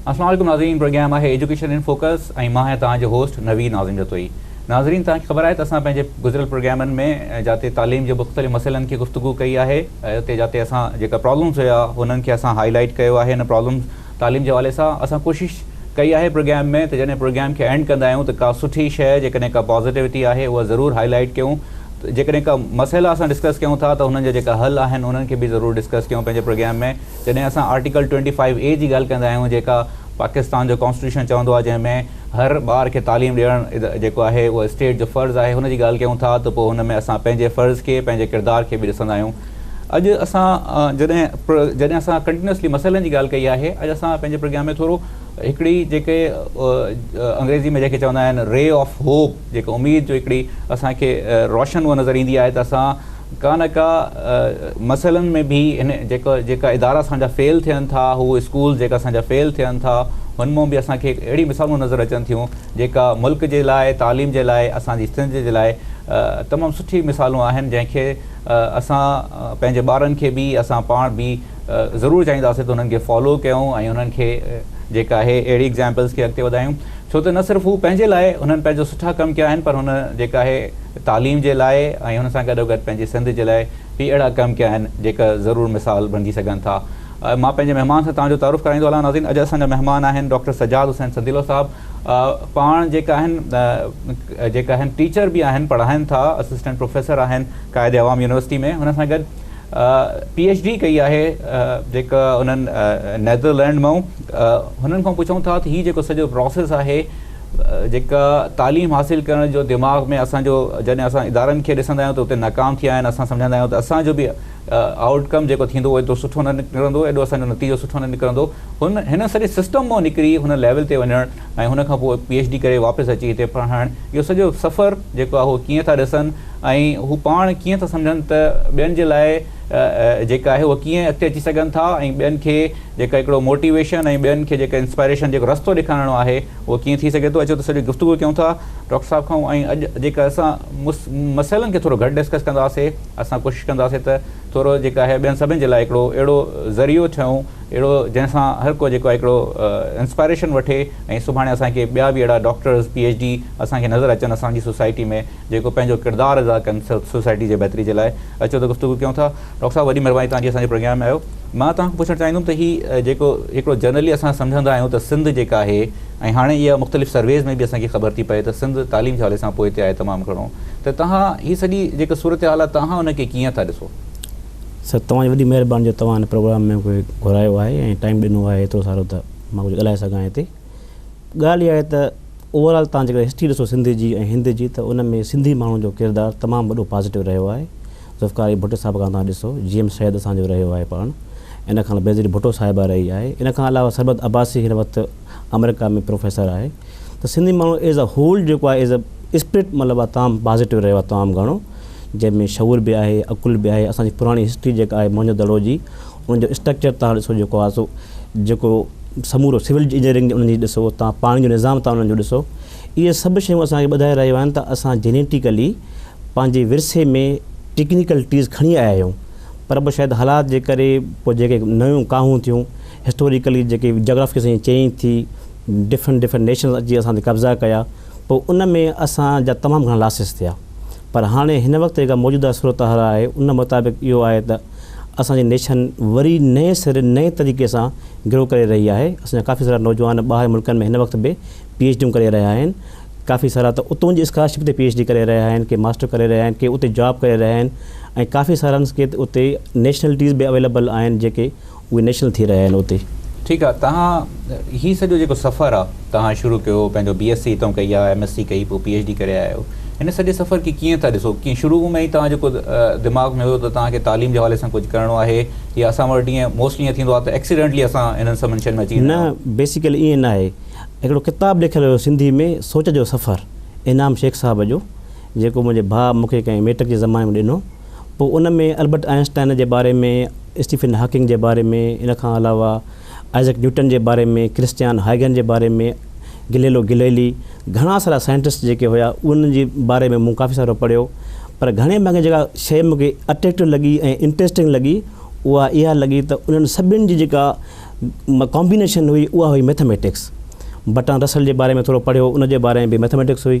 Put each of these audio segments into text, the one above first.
السلام عليڪم ناظرين پروگرام آهي ايجوڪيشن ان فوڪس ۽ مان آهيان توهان جو هوسٽ نويد ناظرين جتوئي ناظرين توهان کي خبر آهي ته اسان پنهنجي گذريل پروگرامن ۾ جاتي تعليم جي مختلف مسئلن کي گفتگو ڪئي آهي اتي جاتي اسان جيڪا پرابلمز هيا انهن کي اسان هاء لائيٽ ڪيو آهي ان پرابلمز تعليم جي حوالي سان اسان ڪوشش ڪئي آهي پروگيام ۾ ته جڏهن پروگيام کي اينڊ ڪندا آهيون ته ڪا سٺي شيء جيڪڏهن ڪا پازيٽوٽي آهي اها ضرور هائي لائيٽ ڪيون جيڪڏهن ڪا مسئلا اسان ڊسڪس ڪيون ٿا ته هنن جا جيڪا حل آهن انهن کي به ضرور ڊسڪس ڪيون پنهنجي پروگيام ۾ جڏهن اسان آرٽيڪل ٽوئنٽي فائيو اي جي ڳالهه ڪندا آهيون جيڪا پاڪستان جو ڪانسٽيٽيوشن چوندو آهي جنهن ۾ هر ٻار کي تعليم ڏيڻ جيڪو آهي اهو اسٽيٽ جو فرض آهي ان جي ڳالهه ڪيون ٿا ته پوء هن ۾ اسان پنهنجي فرض کي پنهنجي ڪردار کي به ڏسندا آهيون اڄ اسان جڏهن جڏهن اسان ڪنٽينيوسلي مسئلن جي ڳالهه ڪئي آهي اڄ اسان پنهنجي پرگيان ۾ ٿورو هڪڙي جيڪي انگريزي ۾ جنهن کي چوندا آهن ري آف هوپ جيڪي اميد جو هڪڙي اسان کي روشن هوء نظر ايندي آهي ته اسان ڪا نه ڪا مسئلن ۾ به هن جيڪا جيڪا ادارا اسان جا فيل ٿين ٿا هو اسڪول جيڪا اسان جا فيل ٿين ٿا هن مون به اسان کي اهڙي مثالون نظر اچن ٿيون جيڪا ملڪ جي لاء تعليم جي لاء اسان جي سنڌ جي لاء تمام سٺي مثالون آهن جنهن کي اسان پنهنجي ٻارن کي به اسان پاڻ به ضرور چاهينداسين ته انهن کي فالو ڪيون ۽ انهن کي جيڪا آهي اهڙي ايگزامپلز کي اڳتي وڌايون ڇو ته نه صرف هو پنهنجي لاء هنن پنهنجو سٺا ڪم ڪيا آهن پر هن جيڪا آهي تعليم جي لاء ۽ هن سان گڏو گڏ پنهنجي سنڌ جي لاء به اهڙا ڪم ڪيا آهن جيڪا ضرور مثال بڻجي سگهن ٿا مان پنهنجي مهمان سان توهان جو تعارف ڪرائيندو هلان ناظرين اڄ اسان جا مهمان آهن ڊاڪٽر سجاد حسين سنديلو صاحب پاڻ جيڪا آهن جيڪا آهن ٽيچر به آهن پڙهائن ٿا اسسٽنٽ پروفيسر آهن قائد عوام يونيورسٽي ۾ هن سان گڏ پي ايڇ ڊي ڪئي آهي جيڪا انهن نيدرلينڊ مئون هنن کان پڇون ٿا ته هي جيڪو سڄو پروسيس آهي جيڪا تعليم حاصل ڪرڻ جو دماغ ۾ اسان جو جڏهن اسان ادارن کي ڏسندا آهيون ته اتي ناڪام ٿيا آهن اسان سمجهندا آهيون ته اسان جو به آئوٽ ڪم جيڪو ٿيندو اهو ايترو سٺو نه نڪرندو ايڏو اسان جو نتيجو سٺو نه نڪرندو هن هن سڄي سسٽم مئن نڪري هن ليول تي وڃڻ ۽ هن کان پوء پي ايڇ ڊي ڪري واپس اچي هتي پڙهائڻ اهو سڄو سفر جيڪو آهي هو ڪيئن ٿا ڏسن ۽ هو پاڻ ڪيئن ٿا سمجهن ته ٻين جي لاء جيڪا آهي هو ڪيئن اڳتي اچي سگهن ٿا ۽ ٻين کي جيڪا هڪڙو موٽيويشن ۽ ٻين کي جيڪا انسپائريشن جيڪو رستو ڏيکارڻو آهي اهو ڪيئن ٿي سگهي ٿو اچو ته سڄي گفتگو ڪيون ٿا ڊاڪٽر صاحب کان ۽ اڄ جيڪا اسان مسئلن کي ٿورو گهٽ ڊسڪس ڪنداسي اسان ڪوشش ڪنداسين ته ٿورو جيڪا آهي ٻين سڀن جي لاء هڪڙو اهڙو ذريعو ٺهيون اهڙو جنهن سان هر ڪو جيڪو آهي هڪڙو انسپائريشن وٺي ۽ سڀاڻي اسان کي ٻيا به اهڙا ڊاڪٽرز پي ايڇ ڊي اسان کي نظر اچن اسان جي سوسائٽي ۾ جيڪو پنهنجو ڪردار ادا ڪن سوسائٽي جي بهتري جي لاء اچو ته گفتگو ڪيون ٿا ڊاڪٽر صاحب وڏي مهرباني توهان جي اسان جي پروگرام ۾ آيو مان توهان کان پڇڻ چاهيندم ته هي جيڪو هڪڙو جنرلي اسان سمجهندا آهيون ته سنڌ جيڪا آهي ۽ هاڻي اها مختلف سرويز ۾ به اسان کي خبر ٿي پئي ته سنڌ تعليم جي حوالي سان پوئتي آهي تمام گهڻو ته تهان هي سڄي جيڪا صورتحال آهي تهان ان کي ڪيئن ٿا ڏسو؟ سر توهان جي وڏي مهرباني جو توهان هن پروگرام ۾ مونکي گهرايو آهي ۽ ٽائيم ڏنو آهي ايترو سارو ته مان ڪجهه ڳالهائي سگهان هتي ڳالهه اها آهي ته اوور آل توهان جيڪڏهن هسٽري ڏسو سنڌ جي ۽ هند جي ته ان ۾ سنڌي ماڻهو جو ڪردار تمام وڏو پازيٽو رهيو آهي ذوالفقار علي ڀٽو صاحب کان توهان ڏسو جي ايم سيد اسان جو رهيو آهي پاڻ ان کان بينظير ڀٽو صاحبه رهي آهي ان کان علاوه سربت عباسي هن وقت آمريڪا ۾ پروفيسر آهي ته سنڌي ماڻهو ايز ا هول جيڪو آهي ايز ا اسپرٽ مطلب آهي تمام پازيٽو رهيو آهي تمام گهڻو جنهن ۾ شعور به آهي عقل به آهي اسان جي پراڻي هسٽري جيڪا آهي موهن جو دڙو جي ان جو اسٽرڪچر تان ڏسو جيڪو آهي سو جيڪو سمورو سول انجنيئرنگ جي انهن جي ڏسو تان پاڻي جو نظام تان انهن جو ڏسو اهي سڀ شيون اسان کي ٻڌائي رهيو آهن ته اسان جينيٽيڪلي پنهنجي ورثي ۾ ٽيڪنيڪل ٽيز کڻي آيا آهيون پر به شايد حالات جي ڪري پوء جيڪي نيون ڪاهون ٿيون هسٽوريڪلي جيڪي جاگرافڪي سائين چيئين ٿي ڊفرنٽ ڊفرنٽ نيشنز اچي اسان تي قبضا ڪيا پوء ان ۾ اسان جا تمام گهڻا لاسز ٿيا پر هاڻي هن وقت جيڪا موجوده صورتحال آهي ان مطابق اهو آهي ته اسان جي نيشن وري نئين سري نئين طريقي سان گرو ڪري رهي آهي اسان جا ڪافي سارا نوجوان ٻاهر ملڪن ۾ هن وقت به پي ايڇ ڊيون ڪري رهيا آهن ڪافي سارا ته اتون جي اسڪالرشپ تي پي ايڇ ڊي ڪري رهيا آهن ڪي ماسٽر ڪري رهيا آهن ڪي اتي جاب ڪري رهيا آهن ۽ ڪافي سارا ڪي اتي نيشنلٽيز به اويليبل آهن جيڪي اهي نيشنل ٿي رهيا آهن اتي. ٺيڪ آ توهان هي سڄو جيڪو سفر آ توهان شروع ڪيو پنهنجو بي ايس سي هتئون ڪئي آ ايم ايس سي ڪئي پوء پي ايڇ ڊي ڪري آيا آهيو هن سڄي سفر کي ڪيئن ٿا ڏسو ڪيئن شروع ۾ ئي توهان جيڪو دماغ ۾ هيو ته توهان کي تعليم جي حوالي سان ڪجهه ڪرڻو آهي يا اسان وٽ ائين موسٽلي ائين ٿيندو آ ته ايڪسيڊنٽلي اسان هنن سڀ منشن ۾ اچي ويندا آهيون. نه بيسيڪلي ائين ناهي هڪڙو ڪتاب لکيل هيو سنڌي ۾ سوچ جو سفر انعام شيخ صاحب جو جيڪو منهنجي ڀاء مون کي ڪنهن ميٽڪ جي زماني ۾ ڏنو. پوء ان ۾ البرٽ آئن اسٽائن جي باري ۾، اسٽيفن هاڪنگ جي باري ۾، ان کان علاوه آئزڪ نيوٽن جي باري ۾، ڪرسٽيان هائيگن جي باري ۾، گليلو گليلي، گهڻا سارا سائنٽسٽ جيڪي هيا انهن جي باري ۾ مون ڪافي سارو پڙهيو. پر گهڻي ڀاڱي جيڪا شيء مون کي اٽريڪٽو لڳي ۽ انٽريسٽنگ لڳي اها اها لڳي ته انهن سڀني جي جيڪا ڪامبينيشن هئي اها هئي ميٿاميٽڪس. برٽرانڊ رسل جي باري ۾ ٿورو پڙهيو ان جي باري ۾ به ميٿاميٽڪس هئي.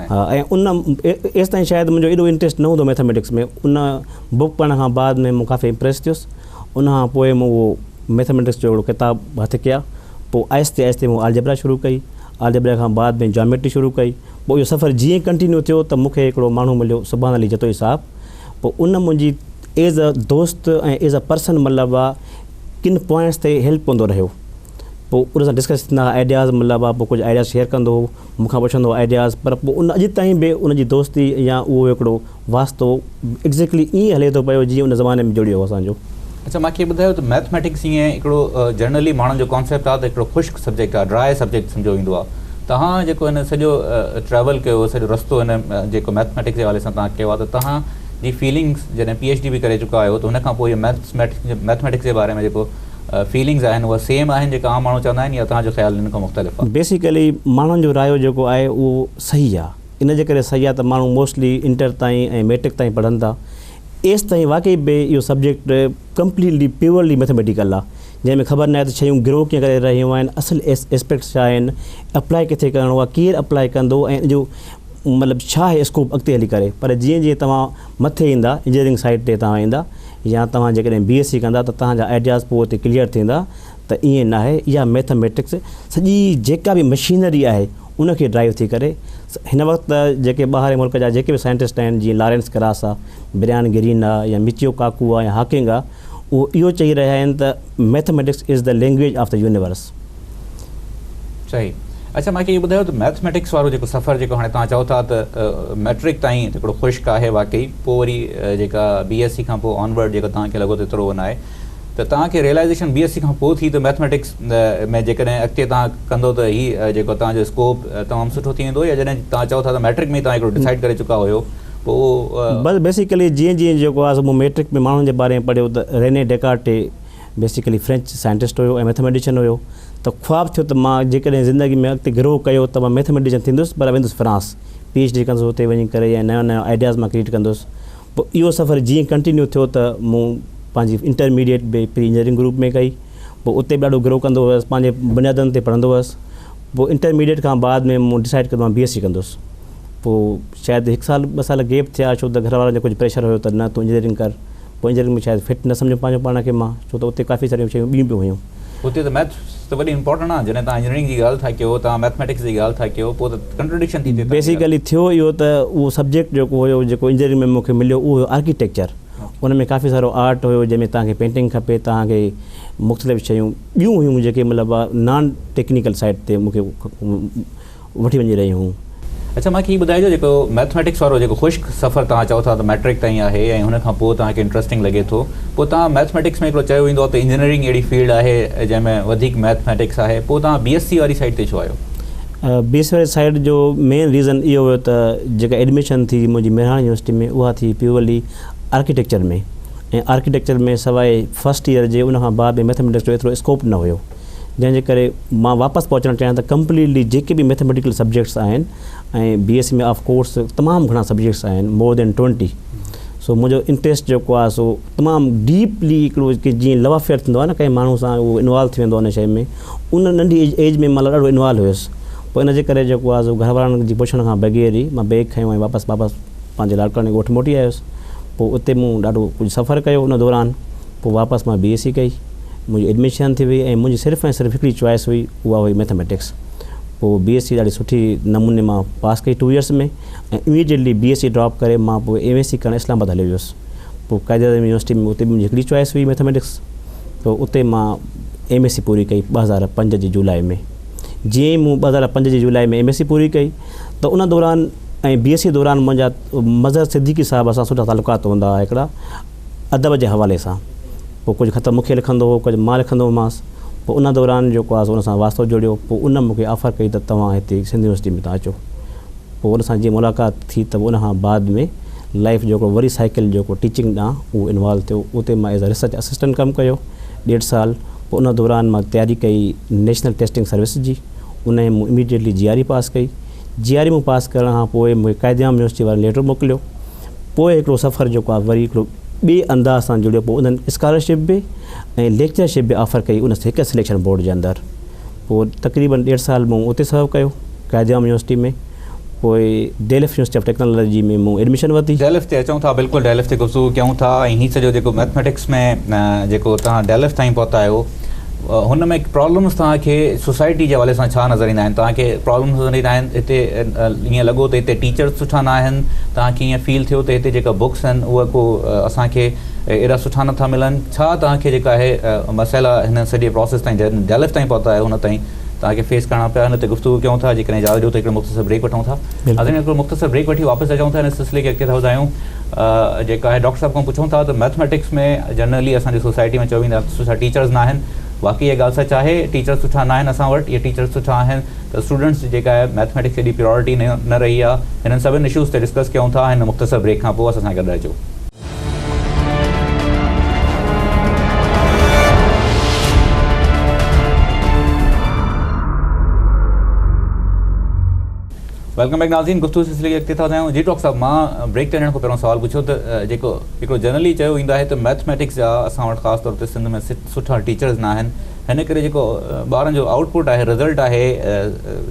ان ايستائين شايد منهنجو ايڏو انٽريسٽ نه هوندو ميٿميٽڪس ۾ ان بوڪ پڙهڻ کان بعد ۾ مون ڪافي امپريس ٿيس ان کان پوء مون اهو ميٿميٽڪس جو هڪڙو ڪتاب هٿ ڪيا پوء آهستي آهستي مون آلجبرا شروع ڪئي آلجبرا کان بعد ۾ جاميٽري شروع ڪئي پوء اهو سفر جيئن ڪنٽينيو ٿيو ته مون کي هڪڙو ماڻهو مليو سبحان علي جتوئي صاحب پوء ان منهنجي ايز اي دوست ۽ ايز اي پرسن مطلب آ ڪن پوائنٽس تي هيلپ ڪندو رهيو پوء ان سان ڊسڪس ٿيندا هئا آئيڊياز مطلب آ پوء ڪجهه آئيڊياز شيئر ڪندو هو مون کان پڇندو آئيڊياز پر پوء ان اڄ تائين به ان جي دوستي يا اهو هڪڙو واسطو ايگزيڪٽلي ائين هلي ٿو پيو جيئن ان زماني ۾ جڙيو هو اسان جو. اڇا مان کي ٻڌايو ته مئٿميٽڪس ائين هڪڙو جنرلي ماڻهن جو ڪانسيپٽ آهي ته هڪڙو خشڪ سبجيڪٽ آهي ڊرائي سبجيڪٽ سمجهيو ويندو آهي توهان جيڪو هن سڄو ٽريول ڪيو سڄو رستو هن جيڪو مئٿميٽڪس جي حوالي سان توهان ڪيو آهي ته توهان جي فيلنگس جڏهن پي ايڇ ڊي به ڪري چڪا آهيو ته هن کان پوء مئٿميٽڪس جي باري ۾ جيڪو فيلنگز آهن اهي سيم آهن جيڪا عام ماڻهو چوندا آهن يا توهان جو خيال ان کان مختلف آهي؟ بيسيڪلي ماڻهن جو رايو جيڪو آهي اهو صحيح آهي ان جي ڪري صحيح آهي ته ماڻهو موسٽلي انٽر تائين ۽ ميٽرڪ تائين پڙهن ٿا ايستائين واقعي به اهو سبجيڪٽ ڪمپليٽلي پيورلي ميٿميٽيڪل آهي جنهن ۾ خبر ناهي ته شيون گرو ڪيئن ڪري رهيون آهن اصل ايسپيڪٽس ڇا آهن اپلائي ڪٿي ڪرڻو آهي ڪير اپلائي ڪندو ۽ ان جو مطلب ڇا آهي اسڪوپ اڳتي هلي ڪري پر جيئن جيئن توهان مٿي ايندا انجنيئرنگ سائيڊ تي توهان ايندا يا توهان جيڪڏهن بي ايس سي ڪندا ته توهان جا آئيڊياز پوء اتي ڪليئر ٿيندا ته ائين ناهي اها ميٿ ميٽڪس سڄي جيڪا به مشينري آهي ان کي ڊرائيو ٿي ڪري هن وقت جيڪي ٻاهرين ملڪ جا جيڪي به سائنٽسٽ آهن جيئن لارينس ڪراس آهي بريان گرين آهي يا مچيو ڪاڪو آهي يا هاڪنگ آهي اهو اهو چئي رهيا آهن ته mathematics is the language of the universe صحيح اچا ماکي اهو ٻڌايو ته ميٿميٽڪس وارو جيڪو سفر جيڪو هاڻي توهان چئو ٿا ته ميٽرڪ تائين هڪڙو خشڪ آهي واقعي پوء وري جيڪا بي ايس سي کان پوء آن ورڊ جيڪو توهان کي لڳو ته ايترو نه آهي ته توهان کي ريلائزيشن بي ايس سي کان پوء ٿي ته ميٿميٽڪس ۾ جيڪڏهن اڳتي توهان ڪندو ته هي جيڪو توهان جو اسڪوپ تمام سٺو ٿي ويندو يا جڏهن توهان چئو ٿا ته ميٽرڪ ۾ توهان هڪڙو ڊسائيڊ ڪري چڪا هيو پوء اهو بس بيسيڪلي جيئن جيئن جيڪو آهي سو مون ميٽرڪ ۾ ماڻهن جي باري ۾ پڙهيو ته Rene Descartes basically French scientist هيو ۽ ميٿميٽيشن هيو ته خواب ٿيو ته مان جيڪڏهن زندگي ۾ اڳتي گروهه ڪيو ته مان ميٿميٽيشن ٿيندس پر ويندس فرانس پي ايڇ ڊي ڪندس اتي وڃي ڪري ۽ نيون نيون آئيڊياز مان ڪريٽ ڪندس پوء اهو سفر جيئن ڪنٽينيو ٿيو ته مون پنهنجي انٽرميڊيئيٽ به پري انجنيئرنگ گروپ ۾ ڪئي پوء اتي به ڏاڍو گروهه ڪندو هيس پنهنجي بنيادن تي پڙهندو هيس پوء انٽرميڊيئيٽ کان بعد ۾ مون ڊسائيڊ ڪيو ته مان بي ايس سي ڪندس پوء شايد هڪ سال ٻه سال گيپ ٿيا ڇو ته گهر وارن جو ڪجهه پريشر هيو ته نه تون انجنيئرنگ ڪر پوئين ذريعن ۾ شايد فٽ نه سمجهيم پنهنجو پاڻ کي مان ڇو ته اتي ڪافي ساريون شيون ٻيون به هيون. اتي ته ميٿس ته وڏي امپورٽنٽ آهن جڏهن توهان انجنيئرنگ جي ڳالهه ٿا ڪيو توهان ميٿميٽڪس جي ڳالهه ٿا ڪيو پوء ته ڪنٽرڊڪشن ٿي ٿئي. بيسيڪلي ٿيو اهو ته اهو سبجيڪٽ جيڪو هيو جيڪو انجنيئرنگ ۾ مون کي مليو اهو هيو آرڪيٽيڪچر ان ۾ ڪافي سارو آرٽ هيو جنهن ۾ توهان کي پينٽنگ کپي توهان کي مختلف شيون ٻيون هيون جيڪي مطلب نان ٽيڪنيڪل سائيڊ تي مون کي وٺي وڃي رهيون هيون. اڇا مون کي هي ٻڌائجو جيڪو مئٿميٽڪس وارو جيڪو خشڪ سفر توهان چئو ٿا ته مئٽرڪ تائين آهي ۽ هن کان پوء توهان کي انٽرسٽنگ لڳي ٿو پوء توهان مئٿميٽڪس ۾ هڪڙو چيو ويندو آهي ته انجنيئرنگ اهڙي فيلڊ آهي جنهن ۾ وڌيڪ مئٿميٽڪس آهي پوء توهان بي ايس سي واري سائيڊ تي ڇو آيو؟ بي ايس سي واري سائيڊ جو مين ريزن اهو هيو ته جيڪا ايڊميشن ٿي منهنجي مهراڻ يونيورسٽي ۾ اها ٿي پيورلي آرڪيٽيڪچر ۾ ۽ آرڪيٽيڪچر ۾ سواء فرسٽ ايئر جي ان کان بعد ۾ مئٿميٽڪس جو ايترو اسڪوپ نه هيو جنهن جي ڪري مان واپس پهچڻ چاهيان ته ڪمپليٽلي جيڪي به ميٿميٽيڪل سبجيڪٽس آهن ۽ B S C ۾ of course تمام گهڻا سبجيڪٽس آهن مور دين ٽوئنٽي سو منهنجو انٽرسٽ جيڪو آهي سو تمام ڊيپلي هڪڙو جيئن لو افيئر ٿيندو آهي نه ڪنهن ماڻهو سان اهو انوالو ٿي ويندو آهي ان شيء ۾ ان ننڍي ايج ۾ مطلب ڏاڍو انوالو هيس پوء ان جي ڪري جيڪو آهي سو گهر وارن جي پڇڻ کان بغير ئي مان بيگ کيو ۽ واپس واپس پنهنجي لاڙڪاڻي ڳوٺ موٽي آيس پوء اتي مون ڏاڍو ڪجهه سفر ڪيو ان دوران پوء واپس مان بي ايس سي ڪئي منهنجي ايڊميشن ٿي وئي ۽ منهنجي صرف ۽ صرف هڪڙي چوائس هئي اها هئي ميٿميٽڪس پوء بي ايس سي ڏاڍي سٺي نموني مان پاس ڪئي two years ۾ ۽ immediately B S C drop ڪري مان پوء ايم ايس سي ڪرڻ اسلام آباد هليو ويس پوء قائد اعظم يونيورسٽي ۾ اتي به منهنجي هڪڙي چوائس هئي ميٿميٽڪس پوء اتي مان ايم ايس سي پوري ڪئي ٻه هزار پنج جي جولاء ۾ جيئن ئي مون ٻه هزار پنج جي جولاء ۾ ايم ايس سي پوري ڪئي ته ان دوران ۽ بي ايس سي دوران منهنجا مظهر صديقي صاحب سان سٺا تعلقات هوندا هئا هڪڙا ادب جي حوالي سان پوء ڪجهه خط مون کي لکندو هو ڪجهه مان لکندو هومانس پوء ان دوران جيڪو آهي سو ان سان واسطو جوڙيو پوء ان مون کي آفر ڪئي ته توهان هتي سنڌ يونيورسٽي ۾ تان اچو پوء ان سان جيئن ملاقات ٿي ته ان کان بعد ۾ لائيف جيڪو وري سائيڪل جيڪو ٽيچنگ ڏانهن اهو انوالو ٿيو اتي مان ايز اي ريسرچ اسسٽنٽ ڪم ڪيو ڏيڍ سال پوء ان دوران مان تياري ڪئي نيشنل ٽيسٽنگ سروس جي ان ۾ مون immediately G R E pass ڪئي جي آر اي مون پاس ڪرڻ کان پوء مون کي قائد اعظم يونيورسٽي وارن ليٽر موڪليو پوء هڪڙو سفر جيڪو آء وري هڪڙو ٻئي انداز سان جڙيو پوء انهن اسڪالرشپ به ۽ ليڪچرشپ به آفر ڪئي ان هڪ سليڪشن بورڊ جي اندر پوء تقريبن ڏيڍ سال مون اتي سرو ڪيو قائد امام يونيورسٽي ۾ پوء ڊيلف يونيورسٽي آف ٽيڪنالاجي ۾ مون ايڊميشن ورتي. ڊيلف تي اچون ٿا بلڪل ڊيلف تي گفتگو ڪيون ٿا ۽ هي سڄو جيڪو مئٿميٽڪس ۾ جيڪو توهان ڊيلف تائين پهتا آهيو. هن ۾ پرابلمز توهان کي سوسائٽي جي حوالي سان ڇا نظر ايندا آهن توهان کي پرابلمز نظر ايندا آهن هتي ائين لڳو ته هتي ٽيچرز سٺا نه آهن توهان کي ائين فيل ٿيو ته هتي جيڪا بڪس آهن اهي ڪو اسان کي ايڏا سٺا نٿا ملن ڇا توهان کي جيڪا آهي مسئلا هن سڄي پروسيس تائين جڏهن ڊيلف تائين پهتا آهيو هن تائين توهان کي فيس ڪرڻا پيا هن تي گفتگو ڪيون ٿا جيڪڏهن اجازت ڏيو ته هڪڙو مختصر بريڪ وٺون ٿا ناظرين هڪڙو مختصر بريڪ وٺي واپس اچون ٿا هن سلسلي کي اڳتي ٿا وڌايون جيڪا آهي ڊاڪٽر صاحب کان پڇون ٿا ته مئٿميٽڪس ۾ جنرلي اسان جي سوسائٽي ۾ چيو ويندو آهي ته سٺا ٽيچرز نه آهن واقعي اهي ڳالهه سچ آهي ٽيچرز سٺا نه آهن اسان وٽ يا ٽيچرز سٺا آهن ته اسٽوڊنٽس جي جيڪا آهي مئٿميٽڪس ايڏي پريارٽي نه رهي آهي هنن سڀني اشوز تي ڊسڪس ڪيون ٿا هن مختصر بريڪ کان پوء اسان سان گڏ رهجو. ويلڪم بيڪ ناظرين گفتگو سلسلي کي اڳتي ٿا وڌايون جي ڊاڪٽر صاحب مان بريڪ تي وڃڻ کان پهريون سوال پڇيو ته جيڪو هڪڙو جنرلي چيو ويندو آهي ته مئٿميٽڪس جا اسان وٽ خاص طور تي سنڌ ۾ سٺا ٽيچرز نه آهن هن ڪري جيڪو ٻارن جو آئوٽ پٽ آهي رزلٽ آهي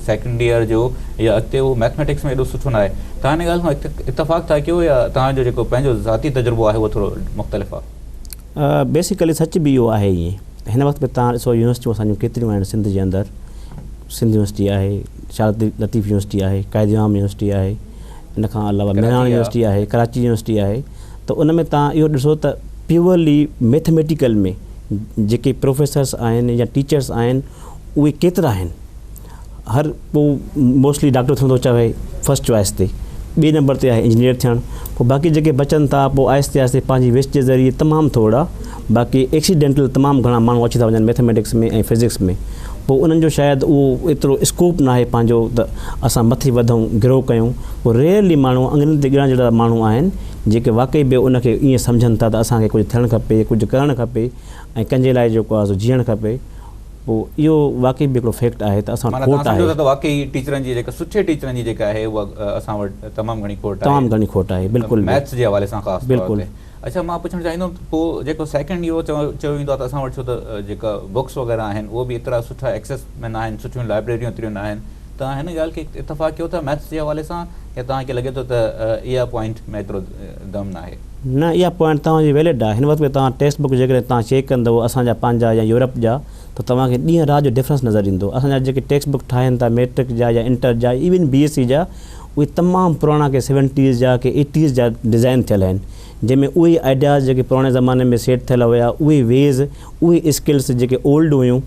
سيڪنڊ يئر جو يا اڳتي هو مئٿميٽڪس ۾ ايڏو سٺو نه آهي توهان هن ڳالهه کان اتفاق ٿا ڪيو يا توهان جو جيڪو پنهنجو ذاتي تجربو آهي اهو ٿورو مختلف آهي بيسيڪلي سچ به اهو آهي ائين هن وقت به توهان ڏسو يونيورسٽيون اسان جون ڪيتريون آهن سنڌ جي اندر سنڌ يونيورسٽي آهي شارق لطيف يونيورسٽي آهي، قائد امام يونيورسٽي آهي، ان کان علاوه مهراڻ يونيورسٽي آهي، ڪراچي يونيورسٽي آهي ته ان ۾ توهان اهو ڏسو ته پيورلي ميٿميٽيڪل ۾ جيڪي پروفيسرس آهن يا ٽيچرس آهن اهي ڪيترا آهن؟ هر ڪو موسٽلي ڊاڪٽر ٿيڻ ٿو چاهي فرسٽ چوائس تي، ٻئي نمبر تي آهي انجنيئر ٿيڻ، پوء باقي جيڪي بچن ٿا پوء آهستي آهستي پنهنجي ويسٽ جي ذريعي تمام ٿورڙا باقي ايڪسيڊينٽل تمام گهڻا ماڻهو اچي ٿا وڃن ميٿميٽڪس ۾ ۽ فزڪس ۾ پوء انهن جو شايد اهو ايترو اسڪوپ ناهي پنهنجو ته اسان مٿي وڌون گرو ڪيون پوء ريئرلي ماڻهو انگرين تي ڳڻڻ جهڙا ماڻهو آهن جيڪي واقعي به ان کي ائين سمجهن ٿا ته اسان کي ڪجهه ٿيڻ کپي ڪجهه ڪرڻ کپي ۽ ڪنهن جي لاء جيڪو آهي سو جيئڻ کپي پوء اهو واقعي به هڪڙو فيڪٽ آهي ته اسان وٽ کوٽ آهي. معنيٰ توهان سمجهو ٿا ته واقعي ٽيچرن جي جيڪا سٺي ٽيچرن جي جيڪا آهي اها اسان وٽ تمام گهڻي کوٽ آهي. تمام گهڻي کوٽ آهي بلڪل به ميٿس جي حوالي سان خاص طور تي. اڇا مان پڇڻ چاهيندم ته پوء جيڪو سيڪنڊ اهو چيو ويندو آهي ته اسان وٽ ڇو ته جيڪا بوڪس وغيره آهن اهو به ايترا سٺا ايڪسيس ۾ ناهن سٺيون لائبريريون ايتريون ناهن توهان هن ڳالهه کي اتفاق ڪيو ٿا ميٿس جي حوالي سان يا توهان کي لڳي ٿو ته اها پوائنٽ ۾ ايترو دم ناهي. نه اها پوائنٽ توهان جي ويلڊ آهي هن وقت به توهان ٽيڪسٽ بوڪ جيڪڏهن توهان چيڪ ڪندو اسان جا پنهنجا يا يورپ جا ته توهان کي ڏينهن رات جو ڊفرنس نظر ايندو اسان جا جيڪي ٽيڪسٽ بوڪ ٺاهين ٿا ميٽرڪ جا يا انٽر جا ايون بي ايس سي جا اهي تمام پراڻا ڪي سيونٽيز جا ڪي ايٽيز جا ڊزائن ٿيل آهن جنهن ۾ اهي آئيڊياز جيڪي پراڻي زماني ۾ سيٽ ٿيل هيا اهي ويز اهي اسڪلس جيڪي اولڊ هيون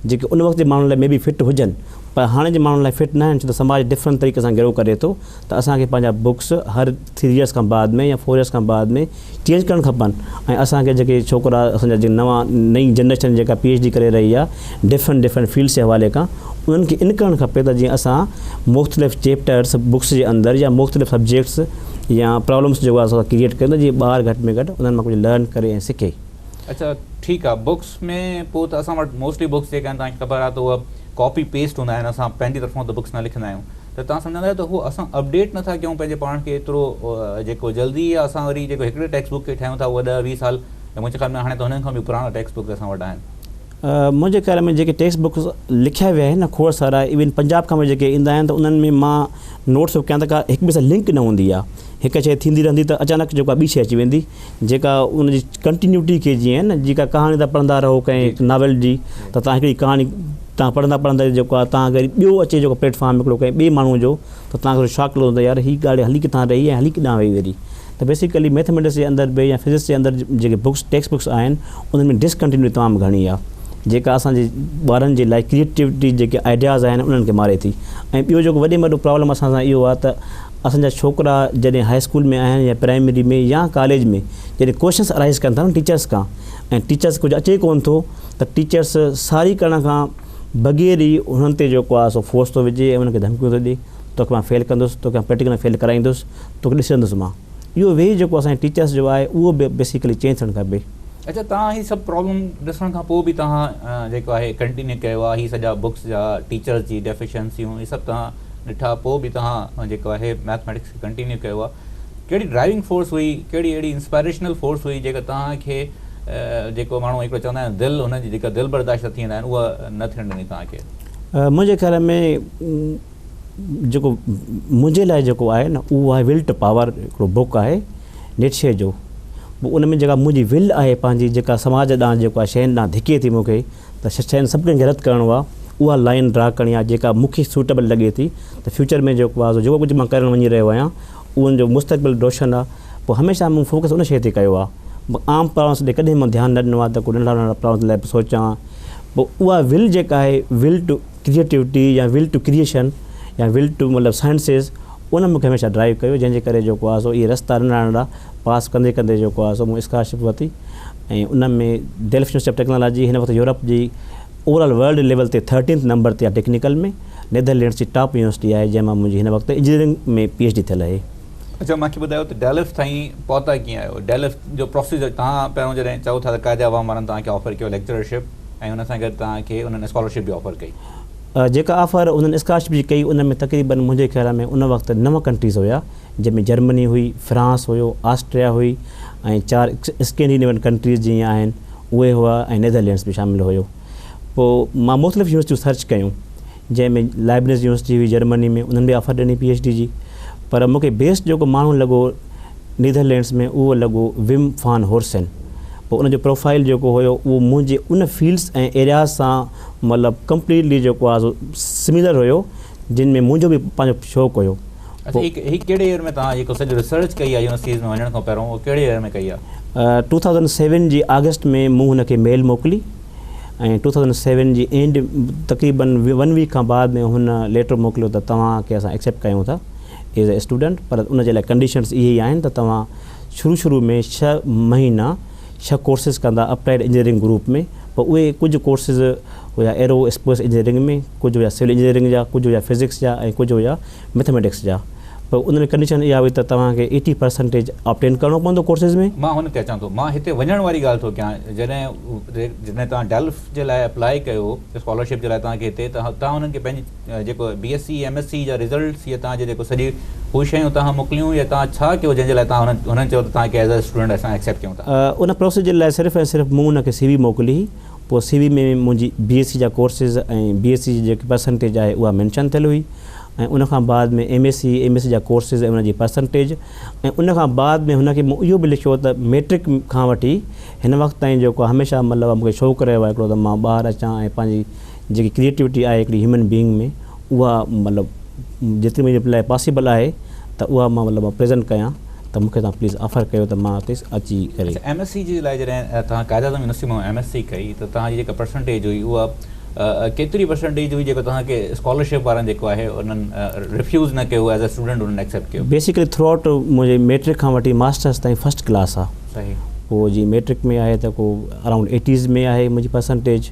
جيڪي ان وقت جي ماڻهن لاء مي بي فٽ هجن پر هاڻي جي ماڻهن لاء فٽ ناهن ڇو ته سماج ڊفرنٽ طريقي سان گرو ڪري ٿو ته اسان کي پنهنجا بڪس هر ٿري ايئرس کان بعد ۾ يا فور ايئرس کان بعد ۾ چينج ڪرڻ کپن ۽ اسان کي جيڪي ڇوڪرا اسان جا جيڪي نوان نئين جنريشن جيڪا پي ايڇ ڊي ڪري رهي آ ڊفرنٽ ڊفرنٽ فيلڊس جي حوالي کان انهن کي ان ڪرڻ کپي ته جيئن اسان مختلف چيپٽرس بڪس جي اندر يا مختلف سبجيڪٽس يا پرابلمس جيڪو اسان ڪريئيٽ ڪريون ته جيئن ٻار گهٽ ۾ گهٽ انهن مان ڪجهه لرن ڪري ۽ سکي. اڇا ٺيڪ آ بڪس ۾ پوء ته اسان وٽ موسٽلي بڪس جيڪا آهن توهان کي خبر آ ته اهي ڪاپي پيسٽ هوندا آهن اسان پنهنجي طرفان ته بڪس نه لکندا آهيون ته توهان سمجهندا آهيو ته هو اسان اپڊيٽ نه ٿا ڪيون پنهنجي پاڻ کي ايترو جيڪو جلدي يا اسان وري جيڪو هڪڙي ٽيڪسٽ بڪ کي ٺاهيون ٿا اهو ڏهه ويهه سال يا منهنجي خيال ۾ هاڻي ته هنن کان به پراڻا ٽيڪسٽ بڪ اسان وٽ آهن. منهنجي خيال ۾ جيڪي ٽيڪسٽ بڪس لکيا ويا آهن نه کوڙ سارا ايون پنجاب کان به جيڪي ايندا آهن ته انهن ۾ مان نوٽس ٿو ڪيان ته ڪا هڪ ٻئي سان لنڪ نه هوندي آهي هڪ شيء ٿيندي رهندي ته اچانڪ جيڪو آهي ٻي شيء اچي ويندي جيڪا ان جي ڪنٽينيوٽي کي جيئن نه جيڪا ڪهاڻي تان پڙهندا رهو ڪنهن ناول جي ته تان هڪڙي ڪهاڻي تان پڙهندا پڙهندا جيڪو آ تان وري ٻيو اچي جيڪو پليٽ فارم هڪڙو ڪنهن ٻي ماڻهو جو ته تان کي شاڪ لڳندو يار هي ڳالهه هلي ڪٿان رهي ۽ هلي ڪيڏانهن وئي وري ته بيسيڪلي ميٿميٽڪس جي اندر به يا فزڪس جي اندر جيڪي بڪس ٽيڪسٽ بڪس آهن انهن ۾ ڊسڪنٽينيوٽي تمام گهڻي آ جيڪا اسان جي ٻارن جي لاء ڪريٽيوٽي جيڪي آئيڊياز آهن انهن کي ماري ٿي ۽ ٻيو جيڪو وڏي ۾ وڏو پرابلم اسان سان اهو آ ته اسان جا ڇوڪرا جڏهن هاء اسڪول ۾ آهن يا پرائمري ۾ يا ڪاليج ۾ جڏهن ڪوئشنس ارائيز ڪن ٿا نه ٽيچرس کان ۽ ٽيچرس کي ڪجهه اچي ڪونه ٿو ته ٽيچرس ساري ڪرڻ کان بغير ئي انهن تي جيڪو آهي سو فورس ٿو وجهي ۽ انهن کي ڌمڪيون ٿو ڏي توکي مان فيل ڪندس توکي مان پريڪٽيڪل ۾ فيل ڪرائيندس توکي ڏسندس مان اهو وي جيڪو اسان جي ٽيچرس جو آهي اهو به بيسيڪلي چينج ٿيڻ کپي. اچا توهان هي سڀ پرابلم ڏسڻ کان پوء به توهان جيڪو آهي ڪنٽينيو ڪيو آهي هي سڄا بڪس جا ٽيچرس جي ڊيفيشنسيون هي سڀ توهان ڏٺا پوء به توهان جيڪو آهي ميٿميٽڪس کي ڪنٽينيو ڪيو آهي ڪهڙي ڊرائيونگ فورس هئي ڪهڙي اهڙي انسپائريشنل فورس هئي جيڪا توهان کي جيڪو ماڻهو هڪڙو چوندا آهن دل هنن جي جيڪا دل برداشت ٿيندا آهن اها نه ٿيڻ ڏني توهان کي. منهنجي خيال ۾ جيڪو منهنجي لاء جيڪو آهي نه اهو آهي ول ٽو پاور هڪڙو بوڪ آهي نيٽشي جو ان ۾ جيڪا منهنجي ول آهي پنهنجي جيڪا سماج ڏانهن جيڪو آهي شين ڏانهن ڌڪي ٿي مون کي ته شين سڀ ڪنهن کي رد ڪرڻو آ اها لائين ڊرا ڪرڻي آ جيڪا مون کي سوٽيبل لڳي ٿي ته فيوچر ۾ جيڪو آ جيڪو ڪجهه مان ڪرڻ وڃي رهيو آهيان اهو جو مستقبل روشن آ پوء هميشه مون فوڪس ان شيء تي ڪيو آ عام پرابلمس ڏي ڪڏهن مون ڌيان نه ڏنو آ ته ڪو ننڍڙا ننڍڙا پرابلمس لاء به سوچان پوء اها ول جيڪا آهي ول ٽو ڪريئيٽوٽي يا ول ٽو ڪريئيشن يا ول ٽو مطلب سائنسز ان مون کي هميشه ڊرائيو ڪيو جنهن جي ڪري جيڪو آ سو اهي رستا ننڍڙا ننڍڙا پاس ڪندي ڪندي جيڪو آ سو مون اسڪالرشپ ورتي ۽ ان ۾ ڊيل فينوس آف ٽيڪنالاجي هن وقت يورپ جي اوور آل ورلڊ ليول تي ٿرٽينٿ نمبر تي آهي ٽيڪنيڪل ۾ نيڌر لينڊس جي ٽاپ يونيورسٽي آهي جنهن مان منهنجي هن وقت انجنيئرنگ ۾ پي ايڇ ڊي ٿيل آهي. اچو مانکي ٻڌايو ته ڊيلفٽ تائين پهتا ڪيئن آهيو ڊيلفٽ جو پروسيجر تهان پهريون جڏهن چئو ٿا ته قائد عوام وارن توهان کي آفر ڪيو ليڪچرر شپ ۽ ان سان گڏ توهان کي انهن اسڪالر شپ به آفر ڪئي. جيڪا آفر انهن اسڪالر شپ جي ڪئي ان ۾ تقريبن منهنجي خيال ۾ ان وقت نو ڪنٽريز هيا. جنهن ۾ جرمني هئي، فرانس هيو، آسٽريا هئي ۽ چار اسڪينڊينيوين ڪنٽريز جيئن آهن اهي هئا ۽ نيڌرلينڊس به شامل هيو. پوء مان مختلف يونيورسٽيون سرچ ڪيون جنهن ۾ لائبنز يونيورسٽي هئي جرمني ۾ انهن به آفر ڏني پي ايڇ ڊي جي پر مون کي بيسٽ جيڪو ماڻهو لڳو نيڌرلينڊس ۾ اهو لڳو وم فان هورسن پوء ان جو پروفائل جيڪو هيو اهو منهنجي ان فيلڊس ۽ ايرياز سان مطلب ڪمپليٽلي جيڪو آهي سو سميلر هيو. جن ۾ منهنجو به پنهنجو شوق هيو. اچا هي هي ڪهڙي يير ۾ توهان جيڪو سڄي ريسرچ ڪئي آهي يونيورسٽيز ۾ وڃڻ کان پهريون اهو ڪهڙي يير ۾ ڪئي آهي؟ ٽو ٿائوزنڊ سيون جي آگسٽ ۾ مون هن کي ميل موڪلي ۽ ٽو ٿائوزنڊ سيون جي اينڊ تقريبن ون ويڪ کان بعد ۾ هن ليٽر موڪليو ته توهان کي اسان ايڪسيپٽ ڪيون ٿا ايز اي اسٽوڊنٽ پر ان جي لاء ڪنڊيشنز اهي ئي آهن ته توهان شروع شروع ۾ ڇهه مهينا ڇهه ڪورسز ڪندا اپلائيڊ انجنيئرنگ گروپ ۾ پر اهي ڪجهه ڪورسز هيا ايرو اسپيس انجنيئرنگ ۾ ڪجهه هيا سول انجنيئرنگ جا ڪجهه هيا فزڪس جا ۽ ڪجهه هيا ميٿميٽڪس جا پر ان ۾ ڪنڊيشن اها هئي ته توهان کي ايٽي پرسنٽيج آبٽين ڪرڻو پوندو ڪورسز ۾. مان هن کي اچان ٿو مان هتي وڃڻ واري ڳالهه ٿو ڪيان جڏهن جڏهن توهان ڊيلف جي لاء اپلائي ڪيو اسڪالرشپ جي لاء توهان کي هتي ته توهان انهن کي پنهنجي جيڪو B S C M S C جا رزلٽس يا توهان جي جيڪو سڄي هو شيون اتان کان موڪليون يا توهان ڇا ڪيو جنهن جي لاء توهان هنن هنن چيو ته توهان کي ايز اي اسٽوڊنٽ اسان ايڪسيپٽ ڪيون ٿا. ان پروسيجر لاء صرف ۽ صرف مون هن کي سي وي موڪلي پوء سي وي ۾ منهنجي بي ايس سي جا ڪورسز ۽ بي ايس سي جي جيڪي پرسنٽيج آهي اها مينشن ٿيل هئي ۽ ان کان بعد ۾ M S C M S C جا ڪورسز ۽ ان جي پرسنٽيج ۽ ان کان بعد ۾ هن کي مون اهو به لکيو ته ميٽرڪ کان وٺي هن وقت تائين جيڪو هميشه مطلب مون کي شوق رهيو آهي هڪڙو ته مان ٻاهر اچان ۽ پنهنجي جيڪي ڪريئيٽوٽي آهي هڪڙي هيومن بيئنگ ۾ اها مطلب جيتري منهنجي لاء پاسيبل آهي ته اها مان مطلب پريزنٽ ڪيان ته مونکي توهان پليز آفر ڪيو ته مان اتي اچي ڪري. اچا ايم ايس سي جي لاء جڏهن توهان قائد اعظم يونيورسٽي مان ايم ايس سي ڪئي ته توهان جي جيڪا پرسنٽيج هئي اها ڪيتري پرسنٽيج هئي جيڪو توهان کي اسڪالرشپ وارن جيڪو آهي انهن ريفيوز نه ڪيو ايز اي اسٽوڊنٽ انهن ايڪسيپٽ ڪيو. بيسيڪلي ٿرو آئوٽ منهنجي ميٽرڪ کان وٺي ماسٽرس تائين فرسٽ ڪلاس آهي. صحيح. پوء جي ميٽرڪ ۾ آهي ته ڪو اراؤنڊ ايٽيز ۾ آهي منهنجي پرسنٽيج.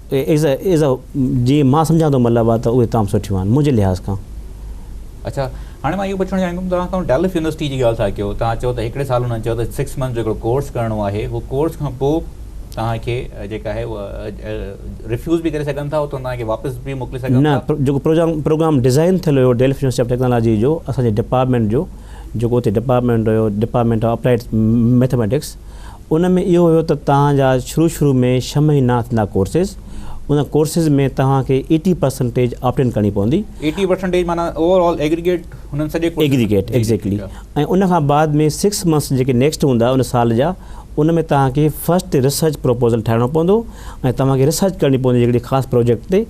ايز اي ايز اي جي مان سمجهان ٿو مطلب آهي ته اهي تمام سٺيون آهن منهنجي لحاظ کان. اڇا هاڻي مان اهو پڇڻ چاهيان ٿو توهان ڪنهن ڊلف يونيورسٽي جي ڳالهه ٿا ڪيو توهان چئو ته هڪڙي سال انهن چيو ته سڪس منٿ جو هڪڙو ڪورس ڪرڻو آهي هو ڪورس کان پوء توهان کي جيڪا آهي اها ريفيوز به ڪري سگهن ٿا اتان توهان کي واپس به موڪلي سگهن ٿا نه جيڪو پروگرام پروگرام ڊزائن ٿيل هيو ڊلف يونيورسٽي آف ٽيڪنالاجي جو اسان جي ڊپارٽمينٽ جو جيڪو اتي ڊپارٽمينٽ هيو ڊپارٽمينٽ آف اپلائيڊ ميٿميٽڪس ان ۾ اهو هيو ته توهان جا شروع شروع ۾ ڇهه مهينا ٿيندا ڪورسز، ان ڪورسز ۾ توهان کي ايٽي پرسنٽيج آپٽ ان ڪرڻي پوندي. ايٽي پرسنٽيج معنيٰ اوور آل ايگريگيٽ هنن سڄي ڪورسز. ايگريگيٽ ايگزيڪٽلي ۽ ان کان بعد ۾ سڪس منٿس جيڪي نيڪسٽ هوندا ان سال جا ان ۾ توهان کي فرسٽ ريسرچ پروپوزل ٺاهڻو پوندو ۽ توهان کي ريسرچ ڪرڻي پوندي هڪڙي خاص پروجيڪٽ تي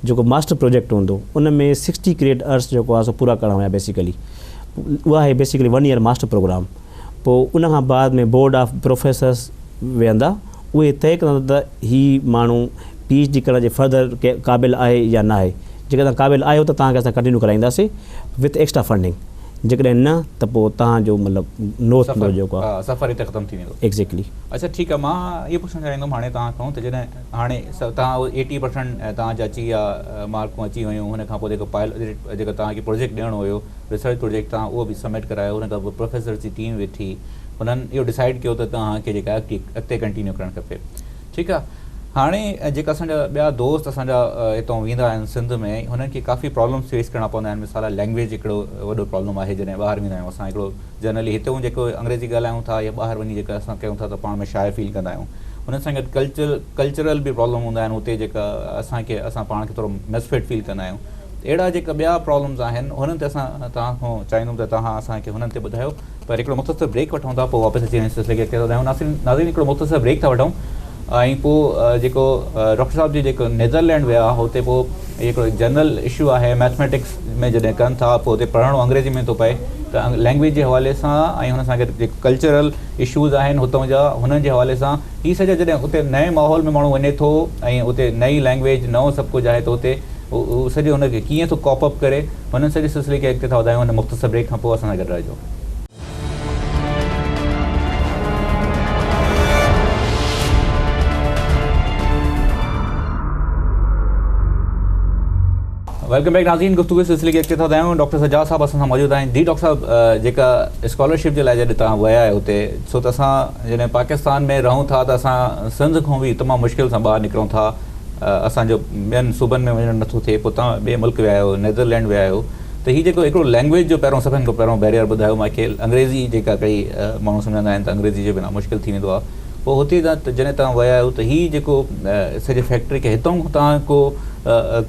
جيڪو ماسٽر پروجيڪٽ هوندو ان ۾ سڪسٽي ڪريڊٽ ارس جيڪو آهي سو پورا ڪرڻا هيا بيسيڪلي اها هي basically one year master program. پوء ان کان بعد ۾ بورڊ آف پروفيسرس ويهندا اهي طئي ڪندا ته هي ماڻهو پي ايڇ ڊي ڪرڻ جي فردر قابل آهي يا ناهي جيڪڏهن توهان قابل آهيو ته توهان کي اسان ڪنٽينيو ڪرائينداسين وٿ ايڪسٽرا فنڊنگ جيڪڏهن نه ته پوء توهان جو مطلب نو ٿيندو جيڪو آهي سفر هتي ختم ٿي ويندو ايڪزيڪلي. اڇا ٺيڪ آهي مان اهو پڇڻ چاهيندم هاڻي توهان کان ته جڏهن هاڻي توهان ايٽي پرسنٽ توهان جا اچي ويا مارڪون اچي ويون هن کان پوء جيڪو پائل جيڪو توهان کي پروجيڪٽ ڏيڻو هيو ريسرچ پروجيڪٽ تان اهو به سبمٽ ڪرايو ان کان پوء پروفيسرز جي ٽيم ويٺي انهن اهو ڊسائيڊ ڪيو ته توهان کي جيڪا اڳتي اڳتي ڪنٽينيو ڪرڻ کپي ٺيڪ آ هاڻي جيڪا اسان جا ٻيا دوست اسان جا هتون ويندا آهن سنڌ ۾ هنن کي ڪافي پرابلمز فيس ڪرڻا پوندا آهن مثال لينگويج هڪڙو وڏو پرابلم آهي جڏهن ٻاهر ويندا آهيون اسان هڪڙو جنرلي هتون جيڪو انگريزي ڳالهايون ٿا يا ٻاهر وڃي جيڪا اسان ڪيون ٿا ته پاڻ ۾ شاء فيل ڪندا آهيون انهن سان گڏ ڪلچر ڪلچرل به پرابلم هوندا آهن هتي جيڪا اسان کي اسان پاڻ کي ٿورو مسفٽ فيل ڪندا آهيون اهڙا جيڪا ٻيا پرابلمز آهن هنن تي اسان توهان کان چاهيندم ته توهان اسان کي هنن تي ٻڌايو پر هڪڙو مختصر بريڪ وٺون ٿا پوء واپس اچي هن سلسلي کي اڳتي وڌايون ناصرين ناظرين هڪڙو مختصر بريڪ ٿا وٺون ۽ پوء جيڪو ڊاڪٽر صاحب جي جيڪو نيدرلينڊ ويا هتي پوء هڪڙو جنرل اشو آهي ميٿميٽڪس ۾ جڏهن ڪن ٿا پوء هتي پڙهڻو انگريزي ۾ ٿو پئي ته لينگويج جي حوالي سان ۽ هن سان گڏ جيڪو ڪلچرل اشوز آهن هتون جا هنن جي حوالي سان هي سڄو جڏهن اتي نئين ماحول ۾ ماڻهو وڃي ٿو ۽ اتي نئين لئنگويج نئون سڀ ڪجهه آهي ته اتي هو سڄو ان کي ڪيئن ٿو ڪاپ اپ ڪري هن سڄي سلسلي کي اڳتي ٿا وڌايون هن مختصر بريڪ کان پوء اسان سان گڏ رهجو. ويلڪم بيڪ ناظرين گفتگو سلسلي کي اڳتي ٿا وڌايون ڊاڪٽر سجاد صاحب اسان سان موجود آهن جي ڊاڪٽر صاحب جيڪا اسڪالرشپ جي لاء جڏهن توهان ويا آهيو اتي سو ته اسان جڏهن پاڪستان ۾ رهون ٿا ته اسان سنڌ کون به تمام مشڪل سان ٻاهر نڪرون ٿا اسان جو ٻين صوبن ۾ وڃڻ نٿو ٿئي پوء توهان ٻئي ملڪ ويا آهيو نيدرلينڊ ويا آهيو ته هي جيڪو هڪڙو لينگويج جو پهريون سڀن کان پهريون بيريئر ٻڌايو مون کي انگريزي جيڪا ڪئي ماڻهو سمجهندا آهن ته انگريزي جي بنا مشڪل ٿي ويندو آهي پوء هتي جڏهن توهان ويا آهيو ته هي جيڪو سڄي فيڪٽري کي هتون کون توهان ڪو